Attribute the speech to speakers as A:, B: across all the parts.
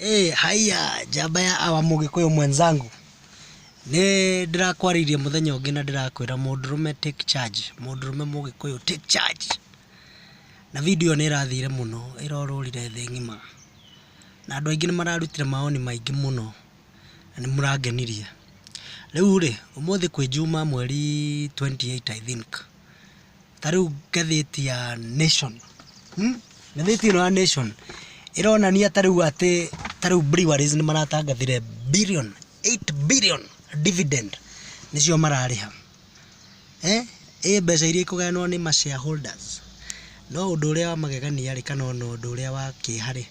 A: Hey, haya njamba ya awa mũgĩkũyũ mwenzangu nĩ ndĩrakwarĩirie mũthenya ũngĩ na ndĩrakwĩra mũndũrũme take charge mũndũrũme mũgĩkũyũ take charge na video nĩ ĩrathire mũno ĩrorũrire thĩ ng'ima na andũ aingĩ nĩ mararutire maoni maingĩ mũno na nĩ mũrangenirie rĩu rĩ ũmũthĩ kwĩ njuma mweri 28 I think Ta rĩu ngathĩti ya Nation, ngathĩti ĩno ya Nation ĩronania ta rĩu atĩ ta rĩu breweries nĩ maratangathire billion, eight billion dividend nĩcio mararĩha. Ĩ mbeca iria ikũgayanwo nĩ ma shareholders. No ũndũ ũrĩa wa magegania rĩ kana ona ũndũ ũrĩa wa kĩeha rĩ,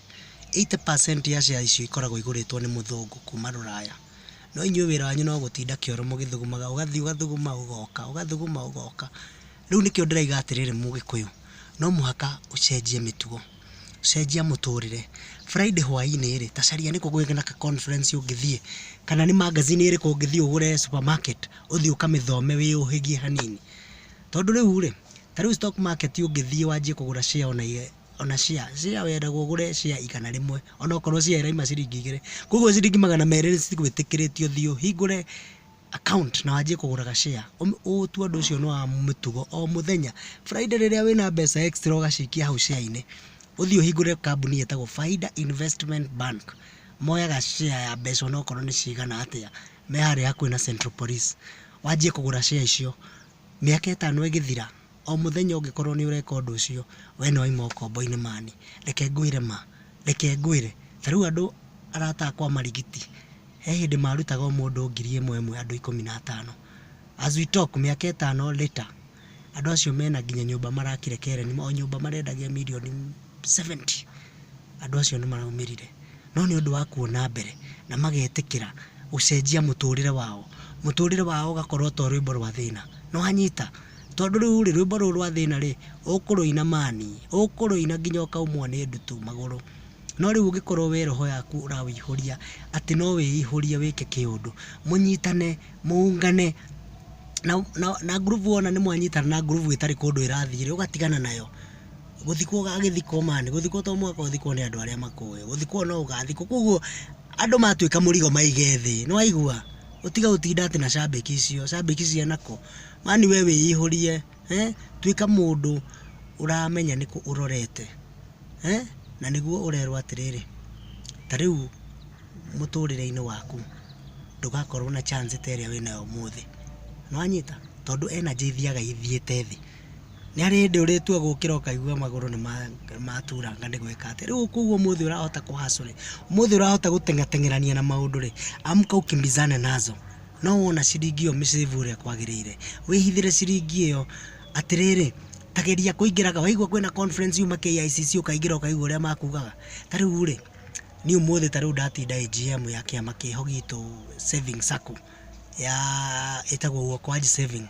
A: eighty percent ya shares icio ikoragwo igũrĩtwo nĩ mũthũngũ kuma rũraya. no inyuĩ wĩra wanyu no gũtinda kĩoro mũgĩthugumaga, ũgathiĩ ũgathuguma ũgoka, ũgathuguma ũgoka. Rĩu nĩkĩo ndĩrauga atĩrĩrĩ mũgĩkũyũ, no mũhaka ũcenjie mĩtugo, cenjia mũtũrĩre. Friday hwainĩ rĩ, ta caria nĩkũ kũngĩ kwĩna ka conference ũngĩthiĩ, kana nĩ magazine ĩrĩkũ ũngĩthiĩ ũgũre supermarket, ũthiĩ ũkamĩthome wĩyũhĩgie hanini. Tondũ rĩu rĩ, ta rĩu stock market ũngĩthiĩ wanjie kũgũra share ona ona share, share wendagwo ũgũre share igana rĩmwe onokorwo share ĩrauma ciringi igĩrĩ, koguo ciringi magana merĩ citigwĩtĩkĩrĩtio ũthiĩ ũhingũre account na wanjie kũgũraga share, ũtue ũndũ ũcio nĩ wa mũtugo o mũthenya, Friday rĩrĩa wĩna mbeca extra ũgacikia hau share-inĩ, ũthiĩ ũhingũre kambuni ĩtagwo Faida Investment Bank, moyaga share ya mbeca onokorwo nĩ cigana atĩa, me harĩa hakuhĩ na Central Police, wanjie kũgũra share icio, mĩaka ĩtano ĩgĩthira, o mũthenya ũngĩkorwo nĩ ũreka ũndũ ũcio, we nĩ wauma ũkombo-inĩ mani. Reke ngwĩre ma, reke ngwĩre, ta rĩu andũ arata akwa Marigiti, he hĩndĩ marutaga o mũndũ ngiri ĩmwe ĩmwe andũ ikũmi na atano. As we talk, mĩaka ĩtano later, andũ acio mena nginya nyũmba marakire Keren, o nyũmba marendagia mirioni... 70 andũ acio nĩ maraumĩrire, no nĩ ũndũ wa kuona mbere na magetĩkĩra gũcenjia mũtũrĩre wao, mũtũrĩre wao ũgakorwo to rwĩmbo rwa thĩna, nĩ wanyita? Tondũ rĩu rĩ, rwĩmbo rũu rwa thĩna rĩ, ũkũrũina mani, ũkũrũina nginya ũkaumwo nĩ ndutu magũrũ, no rĩu ũngĩkorwo we roho yaku ũrawĩihũria atĩ no wĩihũrie wĩke kĩũndũ, mũnyitane, mũũngane, na ngurubu wona nĩ mwanyitana na ngurubu ĩtarĩ kũndũ ĩrathiĩ rĩ, ũgatigana nayo. gũthikwo agĩthikwo man, gũthikwo to mũhaka ũthikwo nĩ andũ arĩa makũĩ, gũthikwo no ũgathikwo, koguo andũ matuĩka mũrigo maige thĩ, nĩ waigua? Ũtige gũtinda atĩ na cambĩki icio, cambĩki cia nako, man we wĩihũrie, tuĩka mũndũ ũramenya nĩkũ ũrorete, na nĩguo ũrerwo atĩrĩrĩ, ta rĩu mũtũrĩre-inĩ waku ndũgakorwo na chance ta ĩrĩa wĩnayo ũmũthĩ, nĩ wanyita? Tondũ energy ithiaga ithiĩte thĩ. Nĩ harĩ hĩndĩ ũrĩtua gũkĩra ũkaigua magũrũ nĩ maturanga nĩ gwĩka atĩa. Rĩu koguo ũmũthĩ ũrahota kũ hustle rĩ, ũmũthĩ ũrahota gũteng'ateng'erania na maũndũ rĩ, amka ukimbizane nazo. No wona ciringi ĩyo mĩ save ũrĩa kwagĩrĩire, wĩhithĩre ciringi ĩyo. Atĩrĩrĩ, ta geria kũingĩraga, waigua kwĩna conference yuma KICC ũkaingĩra ũkaigua ũrĩa makugaga. Ta rĩu rĩ, niĩ ũmũthĩ ta rĩu ndatinda AGM ya kĩama kĩho gitũ Savings Sacco. ya ĩtagwo Uokoa ji Saving.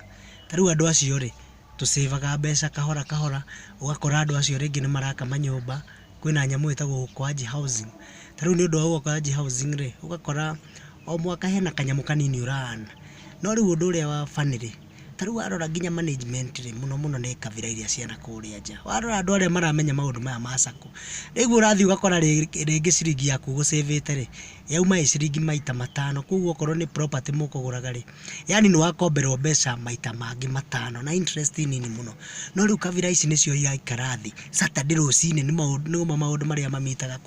A: Ta rĩu andũ acio rĩ, tũ save aga mbeca kahora kahora, ũgakora andũ acio rĩngĩ nĩ maraka manyũmba, kwĩna nyamũ ĩtagwo Uokoa ji Housing. Ta rĩu nĩ ũndũ wa Uokoa ji Housing rĩ, ũgakora o mwaka hena kanyamũ kanini ũ run. No rĩu ũndũ ũrĩa wa funny rĩ, Ta rĩu warora nginya management rĩ, mũno mũno nĩ kabira iria cia nakũrĩa nja. Warora andũ arĩa maramenya maũndũ maya ma sacco, rĩu ũrathiĩ ũgakora rĩngĩ ciringi yaku ũgũ save ĩte rĩ, yauma ĩ ciringi maita matano. Kũguo okorwo nĩ property mũkũgũraga rĩ, yaani nĩ wakomberwo mbeca maita mangĩ matano na interest nini mũno. No rĩu kabira ici nĩcio iraikara thĩ, Saturday rũcinĩ nĩ mo maũndũ marĩa ma meet aga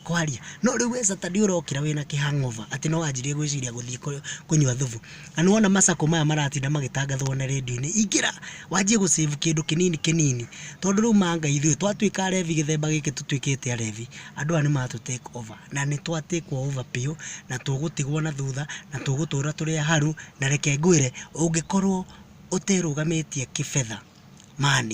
A: kwaria. No rĩu we Saturday ũrokĩra wĩna kĩ hangover atĩ nĩ wanjirie gwĩciria gũthiĩ kũnyua thubu. Na nĩ wona macako maya maratinda magĩtangathwo na rĩndiũ-inĩ, ingĩra wanjie gũ save kĩndũ kĩnini kĩnini. Tondũ rĩu ma nga ithuĩ twatuĩka arevi gĩthemba gĩkĩ tũtuĩkĩte arevi, andũ aya nĩ matũ take over. Na nĩ twa take wo over biũ, na tũgũtigwo na thutha, na tũgũtũra tũrĩ aharu. Na reke ngwĩre, ũngĩkorwo ũterũgamĩtie kĩbetha, man,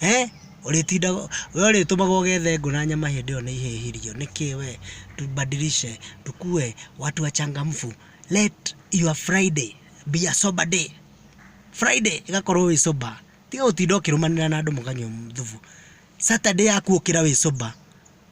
A: eeh, ũrĩtindaga, we ũrĩtũmaga ũgethe ngũ na nyama hĩndĩ ĩyo nĩ ihehirio. Nĩkĩ we? Tubadilishe, tukue watu wachangamfu. let your Friday be a sober day. Friday ĩgakorwo wĩ sober. Tiga gũtinda ũkĩrũmanĩra na andũ mũkanyua thubu. Saturday yaku ũkĩra wĩ sober.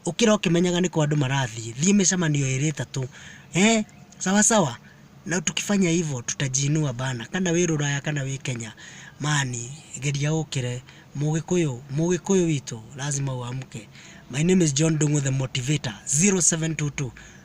A: Ũkĩra ũkĩmenyaga nĩkũ andũ marathiĩ. Thiĩ mĩcemanio ĩrĩ ĩtatũ. Eh, sawa sawa. Na tukifanya hivyo tutajiinua bana. Kana wĩ Rũraya kana wĩ Kenya. Mani, geria ũkĩre. Mũgĩkũyũ, Mũgĩkũyũ witũ lazima uamke. My name is John Dungu the motivator 0722